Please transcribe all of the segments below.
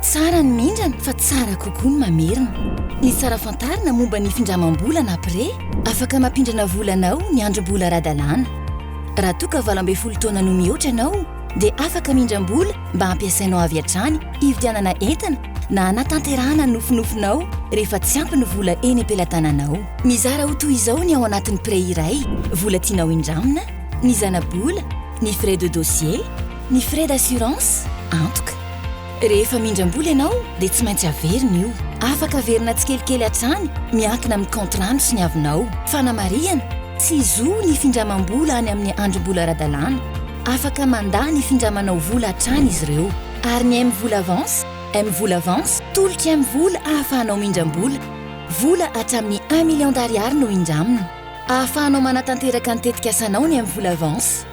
Tsara ny mindrana fa tsara kokoa ny mamerina. Ny tsara fantarina momba ny findramam-bola na pré, afaka mampindrana vola anao ny androm-bola ara-dalàna. Raha toa ka valo ambin'ny folo taona no mihoatra ianao, dia afaka mindram-bola mba hampiasainao avy hatrany hividianana entana na hanatanterahana ny nofinofinao rehefa tsy ampy ny vola eny am-pelatananao. Mizara ho toy izao ny ao anatin'ny prêt iray, vola tianao hindramina, ny zanabola, ny frais de dossier, ny frais d'assurance, antoka. Rehefa mindram-bola ianao dia tsy maintsy averina io. Afaka averina tsikelikely hatrany miankina amin'ny contrant-nao sy ny havinao. Fanamarihana, Tsy zo ny findramam-bola any amin'ny androm-bola ara-dalàna. Afaka mandà ny findramanao vola hatrany izy ireo. Ary ny M-vola Avance? M-vola Avance, tolok'i M-vola ahafahanao mindram-bola. Vola hatramin'ny un million d'ariary no indramina. Ahafahanao manatanteraka ny tetikasanao ny M-vola Avance.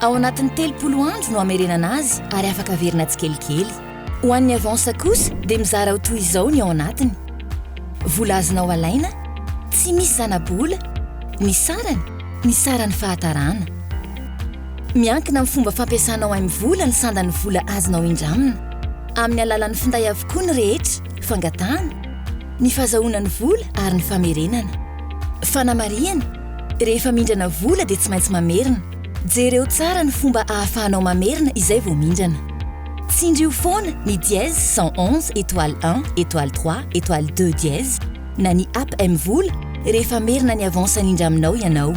Ao anatin'ny telopolo andro no hamerenana azy ary afaka averina tsikelikely. Ho an'ny Avance kosa dia mizara ho toy izao ny ao anatiny, Vola azonao alaina, Tsy misy zana-bola, Ny sarany, Ny saran'ny fahatarana. Miankina amin'ny fomba fampiasanao aim vola ny sandan'ny vola azonao indramina. Amin'ny alalan'ny finday avokoa ny rehetra, fangatahana, ny fazahoana ny vola ary ny famerenana. Fanamarihana, Rehefa mindrana vola dia tsy maintsy mamerina. Jereo tsara ny fomba ahafahanao mamerina izay vao mindrana. Tsindrio foana ny dièse cent onze étoile un étoile trois étoile deux dièse na ny app mvola rehefa merina ny avance nindraminao ianao.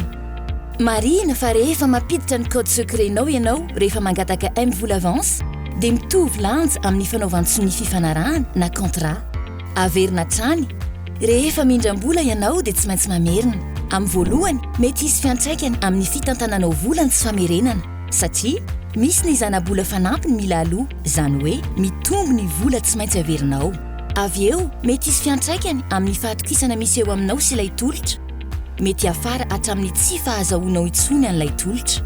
Marihina fa rehefa mampiditra ny code secret-nao ianao rehefa mangataka mvola avance dia mitovy lanja amin'ny fanaovan-tsonia fifanarahana na contrat. Averina hatrany, Rehefa mindram-bola ianao dia tsy maintsy mamerina. Amin'ny voalohany, mety hisy fiantraikany amin'ny fitantananao vola ny tsy famerenana satria misy ny zana-bola fanampiny mila aloa, izany hoe mitombo ny vola tsy maintsy averinao. Avy eo, mety hisy fiantraikany amin'ny fahatokisana misy eo aminao sy ilay tolotra. Mety hiafara hatramin'ny tsy fahazahoanao intsony an'ilay tolotra.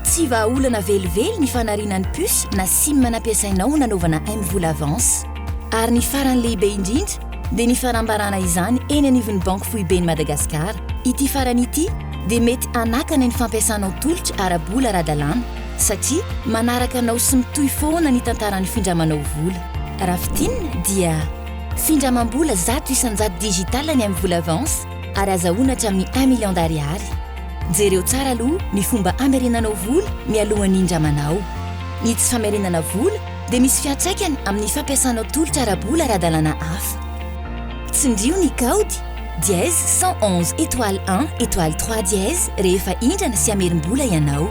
Tsy vahaolana velively ny fanariana ny puce na sim nampiasainao ho nanaovana mvola avance. Ary ny farany lehibe indrindra dia ny fanambarana izany eny anivon'ny Banky Foiben'i Madagasikara. Ity farany ity dia mety hanakana ny fampiasanao tolotra ara-bola ara-dalàna satria manaraka anao sy mitohy foana ny tantaran'ny findramanao vola. Raha fintinina dia. Findramam-bola zato isan-jato digital ny M-vola Avance ary azahoana hatramin'ny un million d'ariary. Jereo tsara aloha ny fomba hamerenanao vola mialohan'ny hindramanao. Ny tsy famerenana vola dia misy fiantraikany amin'ny fampiasanao tolotra ara-bola ara-dalàna hafa. Tsindrio ny kaody dièse cent onze étoile un étoile trois dièse rehefa hindrana sy hamerim-bola ianao.